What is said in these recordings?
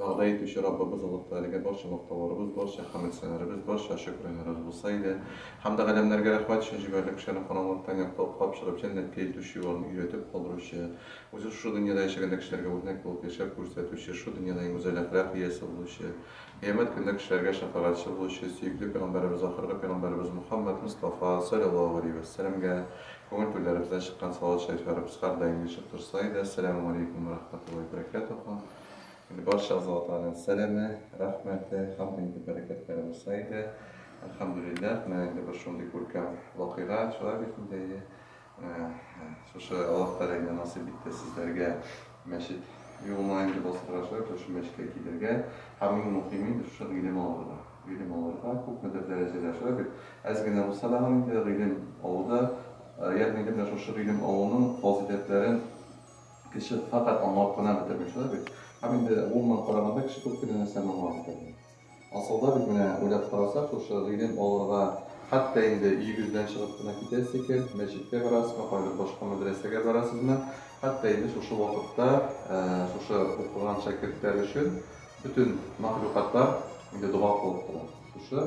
Вәгъдә итүче Раббыбыз олугтыр, әлегә барча мактауларыбыз, барча хәмд-сәналарыбыз, барча шөкренарыбыз булса иде. Хәмде галәмнәргә рәхмәт өчен җибәрелеп төшкән караңгылыктан якка уклап чыгып җәннәткә илтүче юлларны өйрәтеп калдыручы, үзе шушы дөньяда яшәгәндә кешеләргә үрнәк булып яшәп күрсәтүче, шушы дөньяда иң гүзәл әхлак иясе булучы, кыямәт көнендә кешеләргә шәфәгатьче булучы сөекле пәйгамбәребез ахыргы пәйгамбәребез Мөхәммәд Мостафа, салләллаһу галәйһи вә сәләмгә күңел түрләребездән чыккан салават шәрифләребез һәрдаим ешып торса иде, Әссәләмү галәйкүм вә рәхмәтуллаһи вә бәрәкәтүһү. Инде барча азатларның сәламе, рәхмәте, һәм дә инде бәрәкәтләре булса иде. Әлхәмдүлилләһ, менә инде бер шундый күркәм вакыйга, шулай бит инде, әйе. Шушы Аллаһ Тәгалә инде насыйп итте сезләргә мәчет юлына инде басырга, шулай итеп шушы мәчеткә килергә, һәм иң мөхиме инде шушы гыйлем алырга. Гыйлем алырга, күпмедер дәрәҗәдә, шулай бит, әз генә булса да инде гыйлем алуда, ягъни инде менә шушы гыйлем алуның фазыйләтләрен, Кеше фәкать аңлап кына бетерми, шулай бит? Һәм инде гомумән караганда, кеше күп кенә нәрсәне аңлап бетерми. Асылда бит, менә уйлап карасак, шушы гыйлем алырга, хәтта инде өегездән чыгып кына китәсе икән, мәчеткә барасызмы, кайбер башка мәдрәсәгә барасызмы, хәтта инде шушы вакытта шушы укыган шәкертләр өчен бөтен мәхлукатлар инде дога кылып тора. Шушы.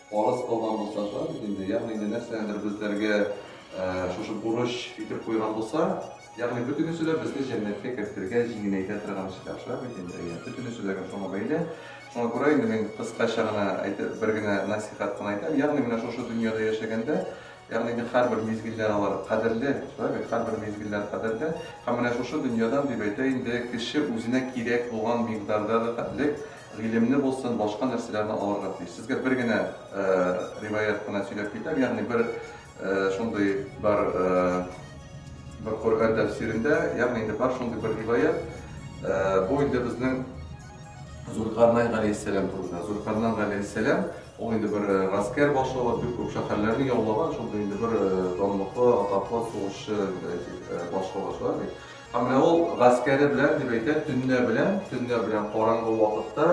Фарыз кылган булса шулай бит инде, ягъни инде нәрсәнедер безләргә шушы бурыч итеп куйган булса, ягъни бөтенесе дә безне җәннәткә кертергә, җиңеләйтә торган эшләр, шулай бит инде, әйе, бөтенесе дә шуңа бәйле. Шуңа күрә инде мин кыскача гына әйтеп, бер генә насихат кына әйтәм, ягъни менә шушы дөньяда яшәгәндә Ягъни бит һәрбер мизгелләр алар кадерле, шулай бит, һәрбер мизгелләр кадерле. Һәм менә шушы дөньядан, дип әйтә инде, кеше үзенә кирәк булган микъдарда рәхәтлек, гыйлемне булсын, башка нәрсәләрне алырга тиеш. Сезгә бер генә риваять кына сөйләп китәм, ягъни бер шундый бар, бер Коръән тәфсирендә, ягъни инде бар шундый бер риваять, бу инде безнең, Зөлкарнәй галәйһиссәлам турында. Зөлкарнан галәйһиссәлам, ул инде бер гаскәр башлыгы, бик күп шәһәрләрне яулаган, шундый инде бер данлыклы, атаклы сугышчы башлыгы, шулай бит? Һәм менә ул гаскәре белән, дип әйтә, төнлә белән, төнлә белән караңгы вакытта,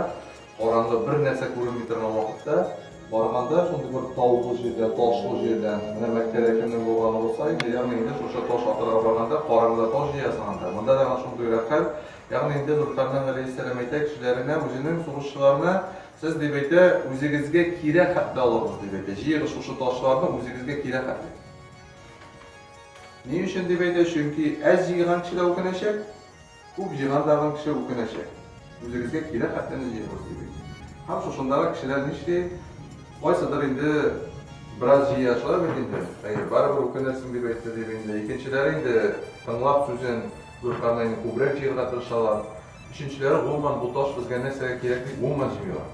караңгы бер нәрсә күренми торган вакытта барганда, шундый бер таулы җирдә, ташлы җирдән, менә Мәккәдә кемнең булганы булса инде, ягъни инде шушы таш атырга барганда, караңгыда таш җыясың анда. Монда да ана шундыйрак хәл, Ягъни инде Нурханның Галәйһиссәлам әйтә кешеләренә, үзенең сугышчыларына, Сез, дип әйтә, үзегезгә кирәк хәтле алыгыз, дип әйтә. Җыегыз шушы ташларны үзегезгә кирәк хәтле. Ни өчен дип әйтә? Чөнки әз җыйган кеше дә үкенәчәк, күп җыйган тагын кеше үкенәчәк. Үзегезгә кирәк хәтлене җыегыз, дип әйтә. Һәм шушындагы кешеләр нишли? Кайсыдыр инде бераз җыя, шулай бит инде? Әйе, барыбер үкенерсең, дип әйтте, дип инде. Икенчеләре инде тыңлап сүзен, Зуркарнәйне күбрәк җыярга тырышалар. Өченчеләре гомумән бу таш безгә нәрсәгә кирәк дип гомумән җыймыйлар.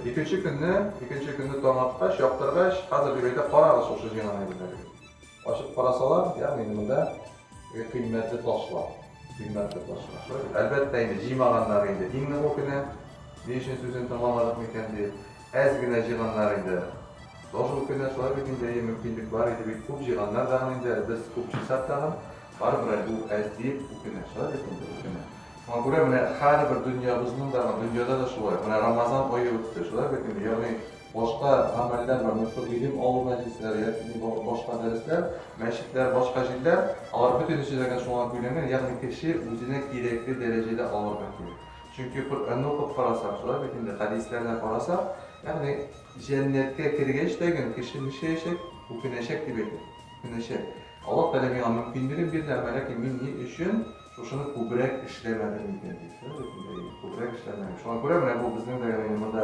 Икенче көнне, икенче көнне таң аткач, яктыргач, хәзер дип әйтә, карагыз шушы җыйган әйберләргә дип. Ачып карасалар, ягъни инде монда кыйммәтле ташлар, кыйммәтле ташлар. Әлбәттә инде җыймаганнар инде иң ныгы кенә, ни өчен сүзен тыңламадык микән дип. Әз генә җыйганнар инде. Тоже ул көннәр шулай бит инде, әйе, мөмкинлек бар иде бит, күп җыйганнар дагын инде, ә без күп җыйсак тагын, барыбер әле ул әз диеп үкенә. Шулай бит инде, үкенә. Шуңа күрә менә һәрбер дөньябызның да, дөньяда да шулай. Менә Рамазан ае үтте, шулай бит инде, ягъни башка гамәлләр бар, менә шул гыйлем алу мәҗлесләре яки ни башка дәресләр, мәчетләр, башка җирләр, алар бөтенесе дә гел шуңа бүленгән, ягъни кеше үзенә кирәкле дәрәҗәдә алырга кирәк. Чөнки Коръәнне укып карасак, шулай бит инде, хәдисләрдә карасак, ягъни җәннәткә кергәч тә гел кеше нишләячәк? Үкенәчәк дип әйтә. Үкенәчәк. Аллаһ Тәгалә миңа мөмкинлеген бирде, әмма ләкин мин ни өчен шушыны күбрәк эшләмәдем икән, дип. Шулай бит инде, әйе, күбрәк эшләмәгән. Шуңа күрә менә бу безнең дә, ягъни монда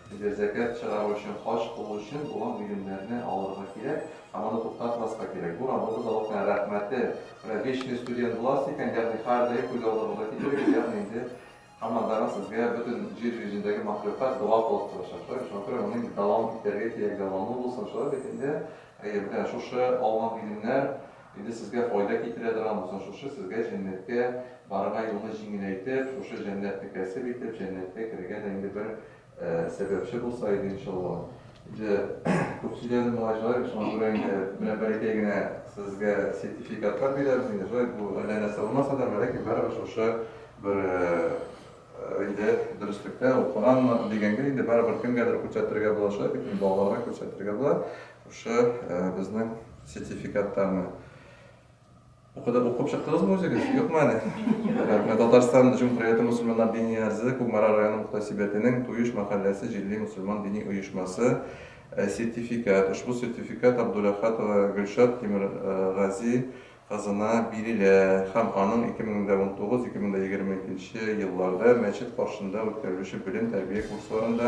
Безгә зәкят чыгару өчен, хаҗ кылу өчен булган бүлемнәрне алырга кирәк һәм аны туктатмаска кирәк. Бу Раббыбыз Аллаһтан рәхмәте белән вечный студент буласыз икән, ягъни һәрдаим күз алдыгызга китерегез, ягъни инде һаманнарга сезгә бөтен җир йөзендәге мәхлукат дога кылып торачак, шулай бит? Шуңа күрә моны инде дәвам итәргә кирәк, дәвамы булсын, шулай бит инде? Әйе, менә шушы алган гыйлемнәр Инде сезгә файда китерә торган булсын шушы, сезгә җәннәткә барырга юлны җиңеләйтеп, шушы җәннәтне кәсеп итеп, җәннәткә керергә дә инде бер сәбәпче булса иде, иншалла. Инде күп сөйләдем, малай җылай, шуңа күрә инде менә бәләкәй генә сезгә сертификатлар бирәбез инде, җылай, бу әллә нәрсә булмаса да, бәләкәй, барыбер шушы бер Инде дөреслектә укыганмы дигәнгә, инде барыбер кемгәдер күрсәтергә булачак бит, инде балаларга күрсәтергә була. Шушы безнең сертификаттарны Укыды, укып чыктыгызмы үзегез? Юкмы әле? Рәхмәт. Татарстан Җумһурияте мусульманнар дини әгъзасы Кукмара районы мөхтәсибәтенең Туеш мәхәлләсе җирле мусульман дини оешмасы сертификат. Ошбу сертификат Абдуләхатова Гөлшат Тимергази кызына бирелә һәм аның 2019-2022 елларда мәчет каршында үткәрелүче белем-тәрбия курсларында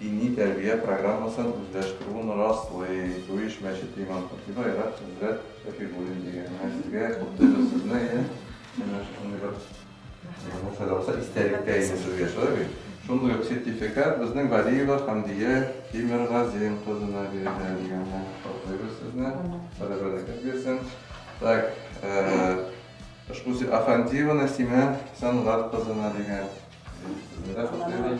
дини тәрбия программасын үзләштерүен раслый. Бу эш мәчет имам-хатибы Айрат хәзрәт Шәфигуллин дигән. Менә сезгә, худды без сезне, әйе? Менә шундый бер. Менә бу файдаланса истәлеккә инде сүз яшәр бит. Шундый ук сертификат безнең Валиева Хамдия Тимергазин кызына бирелә дигәнне котлыйбыз сезне. Сәләм бәрәкәт бирсен. Так, ошбу Афандиеваны Симә Сәнгать кызына дигән. Сезне дә котлыйбыз.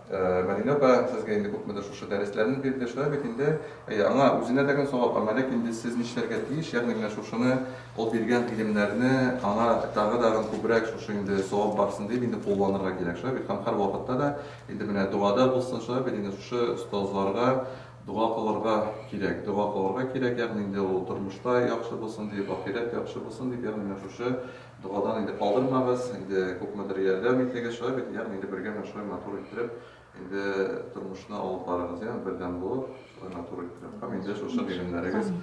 Мәдинә апа сезгә инде күпмедер шушы дәресләрне бирде, шулай бит инде? Әйе, аңа үзенә дә гел савап гамәлек, инде сез нишләргә тиеш, ягъни менә шушыны, ул биргән гыйлемнәрне аңа тагы-тагын күбрәк шушы инде савап барсын дип инде кулланырга кирәк, шулай бит? Һәм һәрвакытта да инде менә догада булсын, шулай бит инде? Шушы остазларга дога кылырга кирәк, дога кылырга кирәк, ягъни инде ул тормышта яхшы булсын дип, ахирәт яхшы булсын дип, ягъни менә шушы Догадан инде калдырмагыз, инде күпмедер ярдәм итегез, шулай бит, ягъни инде бергә менә шулай матур иттереп, инде тормышны алып барыгыз, яме бердәм булып, шулай матур иттереп, һәм инде шушы гыйлемнәрегез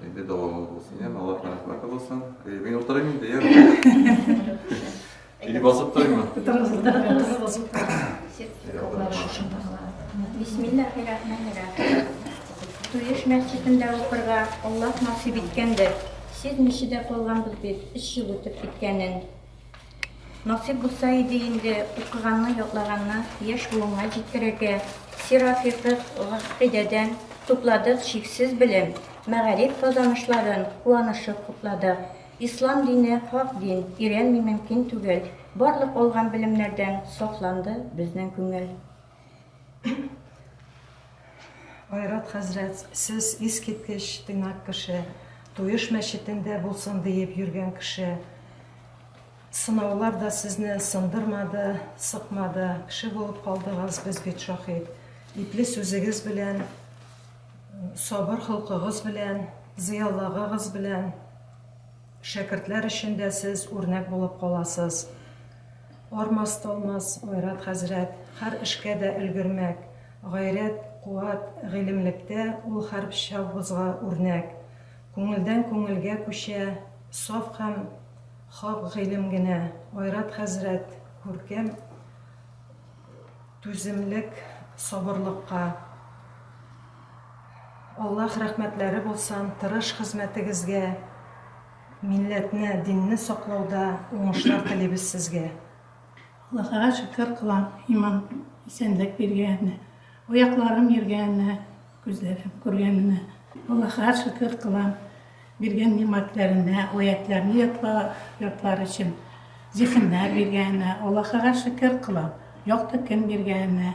инде дәвамлы булсын, яме Аллаһ рәхмәте булсын. Эй, мин утырыйм инде, яме. Или басып торыймы? Бисмиллахи-рахмани-рахим. Туеш мәсҗидендә укырга Аллаһ насыйп иткәндер. Сизмичә дә калганбыз бит, өч ел үтеп киткәнен. Насыйп булса иде инде, укыганны, ятлаганны яшь буынга җиткерергә. Сира, фикых, гакыйдәдән тупладык чиксез белем, мәгариф казанышларын куанышып хупладык. Ислам дине, хак дин, өйрәнми мөмкин түгел. Барлык алган белемнәрдән сафланды безнең күңел. Айрат хәзрәт, сез искиткеч тыйнак кеше, Туеш мәчетендә булсын диеп йөргән кеше. Сынаулар да сезне сындырмады, сыкмады, кеше булып калдыгыз, без бит шаһит. Ипле сүзегез белән, сабыр холкыгыз белән, зыялыгыгыз белән. Шәкертләр өчен дә сез үрнәк булып каласыз. Армас-талмас Айрат хәзрәт, хәр эшкә дә өлгермәк, гайрәт, куәт, гыйлемлектә ул хәрбчавбызга үрнәк. Күңелдән күңелгә күчә, саф һәм хак гыйлем генә. Айрат хәзрәт, күркәм түземлек, сабырлыкка. Аллаһ рәхмәтләре булсын, тырыш хезмәтегезгә, милләтне, динне саклауда уңышлар телибез сезгә. Аллаһыга шөкер кылам, иман, исәнлек биргәненә, аякларым йөргәненә, күзләрем күргәненә. Аллаһыга шөкер кылам. Биргән нигъмәтләренә, аятьләрне ятлар өчен зиһеннәр биргәненә, Аллаһыга шөкер кылып, якты көн биргәненә,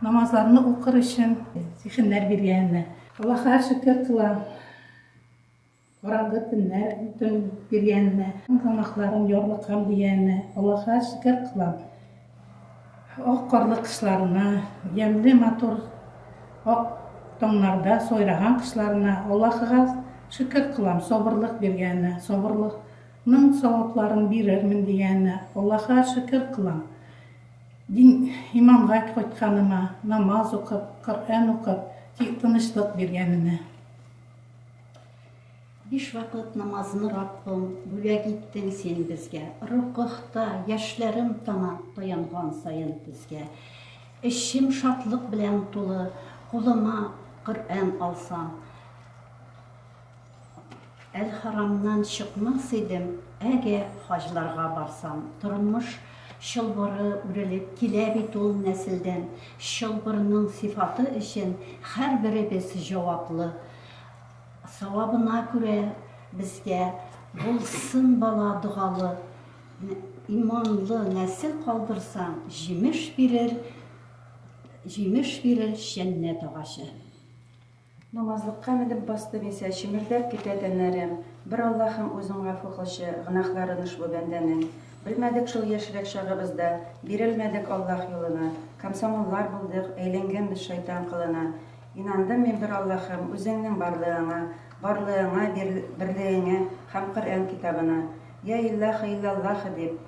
намазларны укыр өчен зиһеннәр биргәненә. Аллаһыга шөкер кылам, караңгы төннәр төн биргәненә, тамакларым ярлыккан дигәненә, Аллаһыга шөкер кылам. Ак карлы кышларына, ямьле матур ак таңнарда сайраган кышларына Аллаһыга шөкер кылам, сабырлык биргәненә, сабырлыкның савапларын бирермен дигәненә Аллаһыга шөкер кылам. Дин, иманга кайтканыма, намаз укып, Коръән укып, тынычлык биргәненә. Биш вакыт намазны Раббым бүләк иттең син безгә, Рокыхта яшьләрем тама таянган саен тезгә. Эчем шатлык белән тулы, кулыма Коръән алсам, Әл-Харамнан чыкмас идем, әгә хаҗларга барсам. Тормыш чылбыры үрелеп килә бит ул нәселдән, чылбырның сыйфаты өчен һәрберебез җаваплы. Савабына күрә безгә булсын бала догалы, иманлы нәсел калдырсаң, җимеш бирер, җимеш бирер җәннәт агачы. Намазлыкка менеп басты Миса, Чемердәп китә тәннәрем. Бер Аллаһым, Үзең гафу кылчы, Гөнаһларын ошбу бәндәнең. Белмәдек шул яшьрәк чагыбызда, Бирелмәдек Аллаһ юлына. Комсомоллар булдык, әйләнгәнбез шайтан кылына. Инандым мин бер Аллаһым, Үзеңнең барлыгыңа, Барлыгыңа, берлегеңә һәм Коръән китабына. Йа Иллаһы, Иллаллаһы дип,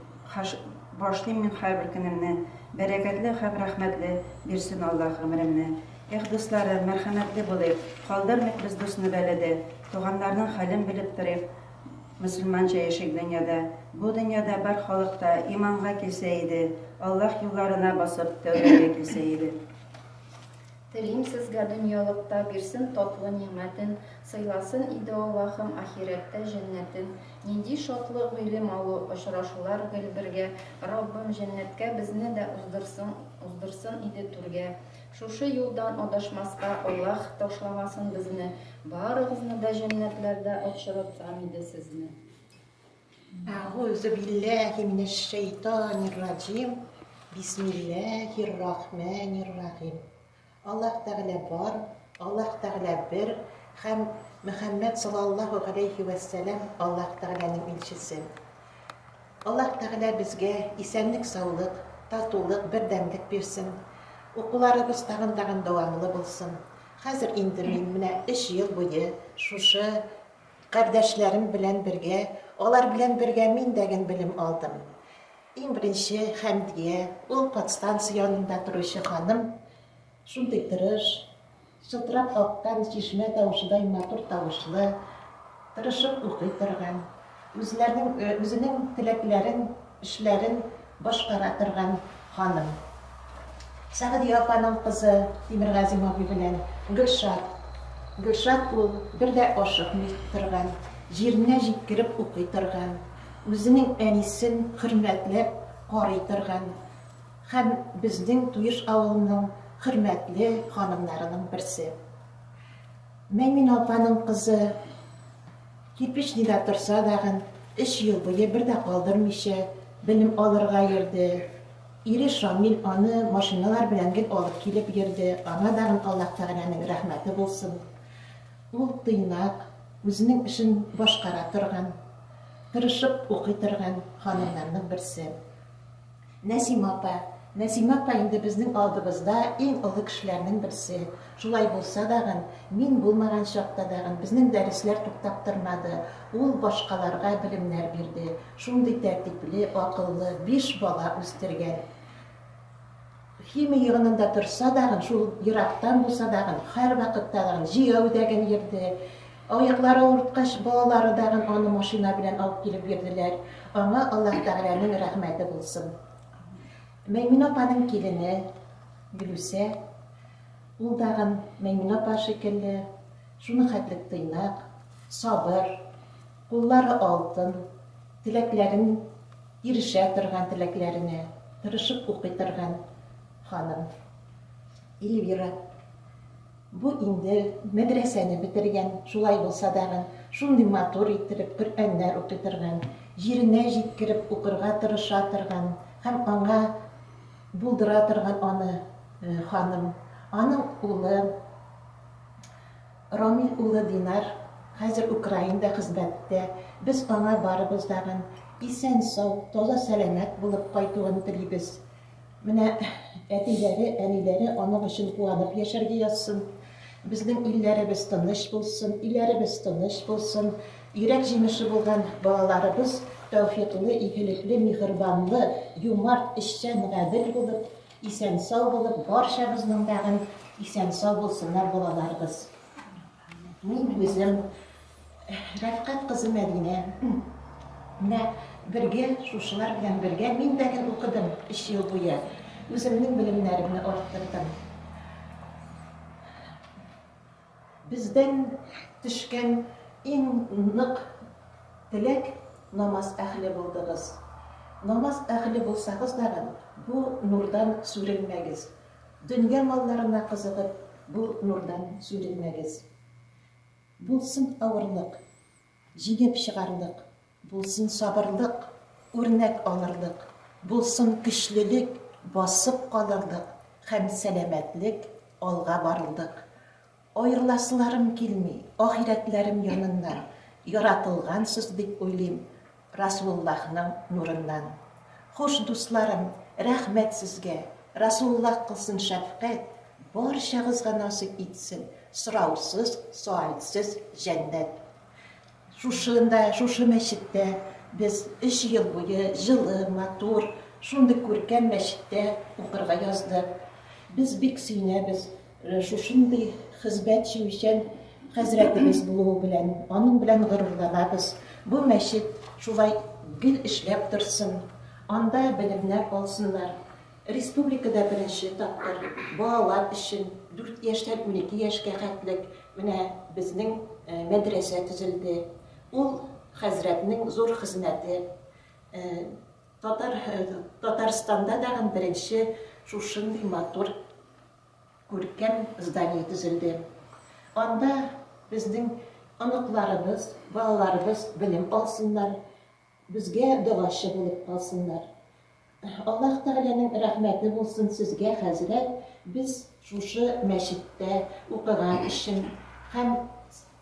башлыйм мин һәрбер көнемне, Бәрәкәтле һәм рәхмәтле бирсен Аллаһ гомеремне. Эх, дусларым, мәрхәмәтле булыйк, Калдырмыйк без дусны бәладә, Туганнарның хәлен белеп торыйк, Мөселманча яшик дөньяда. Бу дөньяда бар халык та Иманга килсә иде, Аллаһ юлларына басып, Тәүбәгә килсә иде. Телим сезгә дөньялыкта бирсен татлы нигъмәтен, сыйласын иде Аллаһым ахирәттә җәннәтен. Нинди шатлык гыйлем алу, очрашулар гел бергә, Раббым җәннәткә безне дә уздырсын, уздырсын иде түргә. Шушы юлдан адашмаска Аллаһ ташламасын безне, барыгызны да җәннәтләрдә очратсам иде сезне. Әгузу билләһи минәш шәйтанир раҗим. Бисмилләһир рахманир рахим. Аллаһ Тәгалә бар, Аллаһ Тәгалә бер һәм Мөхәммәд саллаллаһу галәйһи ва сәлам Аллаһ Тәгаләнең илчесе. Аллаһ Тәгалә безгә исәнлек, саулык, татулык, бердәмлек бирсен. Укуларыбыз тагын тагын дәвамлы булсын. Хәзер инде мин менә өч ел буе шушы Кардәшләрем белән бергә, алар белән бергә мин дә гел белем алдым. Иң беренче Хәмдия, ул подстанция янында торучы ханым, шундый тырыш, чылтырап аккан чишмә тавышыдай матур тавышлы, тырышып укый торган, үзләренең, үзенең теләкләрен эшләрен башкара торган ханым. Сәгъдия апаның кызы Тимергазим абый белән Гөлшат. Гөлшат ул бер дә ашыкмый торган, җиренә җиткереп укый торган, үзенең әнисен хөрмәтләп карый торган һәм безнең Туеш авылының хөрмәтле ханымнарының берсе. Мәймүнә апаның кызы. Кирпеч нидә торса дагын, өч ел буе бер дә калдырмыйча, белем алырга йөрде. Ире Шамил аны машиналар белән гел алып килеп йөрде, аңа дагын Аллаһ Тәгаләнең рәхмәте булсын. Ул тыйнак, үзенең эшен башкара торган, тырышып укый торган ханымнарның берсе. Нәсимә апа, Нәсимә апа инде безнең алдыбызда иң олы кешеләрнең берсе. Шулай булса дагын, мин булмаган чакта дагын безнең дәресләр туктап тормады, ул башкаларга белемнәр бирде, шундый тәртипле, акыллы биш бала үстергән. Химия йогынында торса дагын, шул ерактан булса дагын, һәрвакытта дагын җәяү дәгын йөрде. Аяклары авырткач, балалары дагын аны машина белән алып килеп йөрделәр. Аңа Аллаһ Тәгаләнең рәхмәте булсын. Мәймүнә апаның килене Гөлүсә, ул дагын Мәймүнә апа шикелле, шуның хәтлек тыйнак, сабыр, куллары алтын, теләкләрен Ирешә торган теләкләренә тырышып укый торган ханым Эльвира. Бу инде мәдрәсәне бетергән, шулай булса тагын, шундый матур иттереп Коръәннәр укый торган, җиренә җиткереп укырга тырыша торган һәм аңа булдыра торган аны ханым. Аның улы. Рамил улы Динар хәзер Украинада хезмәттә, без аңа барыбыз дагын исән-сау, таза-сәламәт булып кайтуын телибез. Менә әтиләре, әниләре аның өчен куанып яшәргә язсын. Безнең илләребез тыныч булсын, өйләребез тыныч булсын, йөрәк җимеше булган балаларыбыз тәүфиклы, игелекле, миһербанлы, юмарт, эшчән, гадел булып, Исән-сау булып барчабызның дагын исән-сау булсыннар балаларыбыз. Мин үзем Рәфкать кызы Мәдинә. Менә бергә шушылар белән бергә мин дә гел укыдым 3 ел буе. Үземнең белемнәремне арттырдым. Бездән төшкән иң нык теләк, намаз әһле булдыгыз. Намаз әһле булсагыз тагын, бу нурдан сүрелмәгез. Дөнья малларына кызыгып, бу нурдан сүрелмәгез. Булсын авырлык. Җиңеп чыгарлык, булсын сабырлык, Үрнәк алырлык, булсын көчлелек, Басып калырлык һәм сәламәтлек, Алга барырлык. Аерыласыларым килми, ахирәтләрем яныннан, Яратылгансыз дип уйлыйм, Расуллахның нурыннан. Хуш, дусларым, рәхмәт сезгә, Расуллах кылсын шәфкать, барчагызга насыйп итсен сораусыз, соальсез җәннәт. Шушында, шушы мәчеттә без өч ел буе җылы, матур, шундый күркәм мәчеттә укырга яздык. Без бик сөенәбез. Менә шушындый хезмәтчемичән хәзрәтебез булуы белән, аның белән горурланабыз. Бу мәчет шулай гел эшләп торсын, анда белемнәр алсыннар. Республикада беренче тапкыр балалар өчен, дүрт яшьтән унике яшькә хәтлек менә безнең мәдрәсә төзелде. Ул, хәзрәтнең зур хезмәте. Татар Татарстанда тагын беренче шушындый матур Күркәм здание төзелде. Анда безнең оныкларыбыз, балаларыбыз белем алсыннар, безгә догачы булып калсыннар. Аллаһ Тәгаләнең рәхмәте булсын сезгә, хәзрәт, без шушы мәчеттә укыган өчен һәм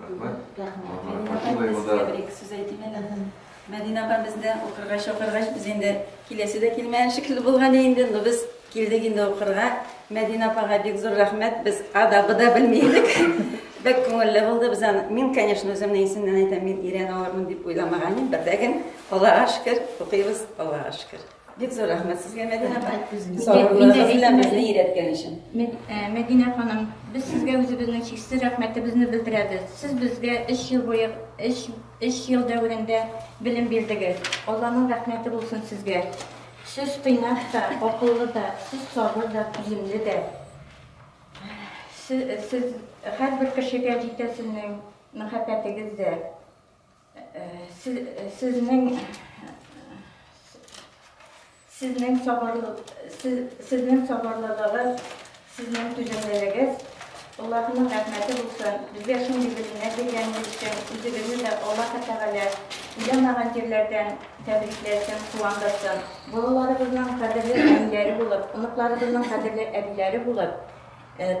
Рәхмәт. Рәхмәт. Мәдинә апа, мин сезгә бер-ике сүз әйтим әле. Мәдинә апа бездә укырга чакыргач, без инде киләсе дә килмәгән шикелле булган инде, но без килдек инде укырга. Мәдинә апага бик зур рәхмәт. Без ада буда белми идек. Бик күңелле булды. Без аны, мин, конечно, үземне исеннән әйтәм, мин өйрәнә алырмын дип уйламаган идем, бердә генә, Аллага шөкер, укыйбыз, Аллага шөкер. Бик зур рәхмәт сезгә, Мәдинә апай. Сабырлыгыгыз белән безне өйрәткән өчен. Э, Мәдинә ханым, без сезгә үзебезнең чиксез рәхмәтебезне белдерәбез. Сез безгә 3 ел буе 3 3 ел дәверендә белем бирдегез. Алланың рәхмәте булсын сезгә. Сез тыйнак та, акыллы да, сез сабыр да, түземле дә. Сез, сез һәрбер кешегә җитәсенең мәхәббәтегез дә. Сезнең сабырлылыгыз, сезнең түземлелегез, Аллаһының рәхмәте булсын. Безгә шундый белемнәр биргәнегез өчен үзегезне дә Аллаһы Тәгалә уйламаган җирләрдән тәбрикләсен, куандырсын. Балаларыбызның кадерле әниләре булып, оныкларыбызның кадерле әбиләре булып,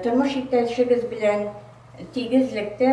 тормыш иптәшегез белән тигезлектә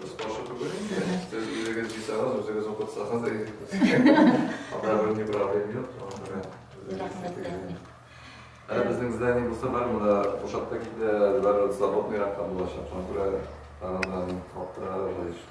Без каршы түгел инде. Сез үзегез җыйсагыз, үзегез укытсагыз да Анда бер ни проблем юк. Рәхмәт рәхмәт. Ә безнең здание булса бар, монда бушап та китә, бар свободный ракка булачак. Шуңа күрә тагын каптыралар да еш.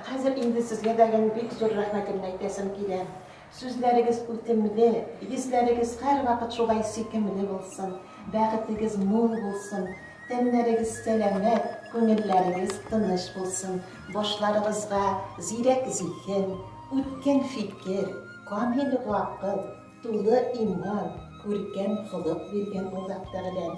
Хәзер инде сезгә дә бик зур рәхмәтемне әйтәсем килә. Сүзләрегез үтемле, йөзләрегез һәрвакыт шулай сөйкемле булсын, бәхетегез мул булсын, тәннәрегез сәламәт, күңелләрегез тыныч булсын, башларыгызга зирәк зиһен, үткен фикер, камил гакыл, тулы иман, күркәм холык биргән Аллаһ Тәгаләм!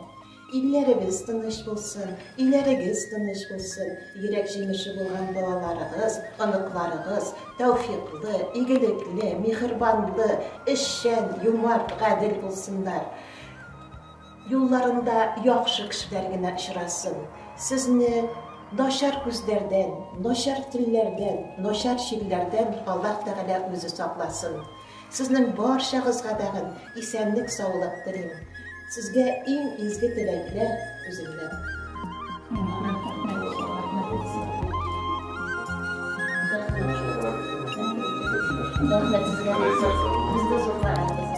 Илләребез тыныч булсын, өйләрегез тыныч булсын, йөрәк җимеше булган балаларыгыз, оныкларыгыз тәүфиклы, игелекле, миһербанлы, эшчән, юмарт, гадел булсыннар. Юлларында яхшы кешеләр генә очрасын. Сезне начар күзләрдән, начар телләрдән, начар чирләрдән Аллаһ Тәгалә үзе сакласын. Сезнең барчагызга бәгът, исәнлек саулык телим. Сезгә иң изге теләкләр үземнән. Рәхмәт сезгә Илсур. Безне зур карадыгыз.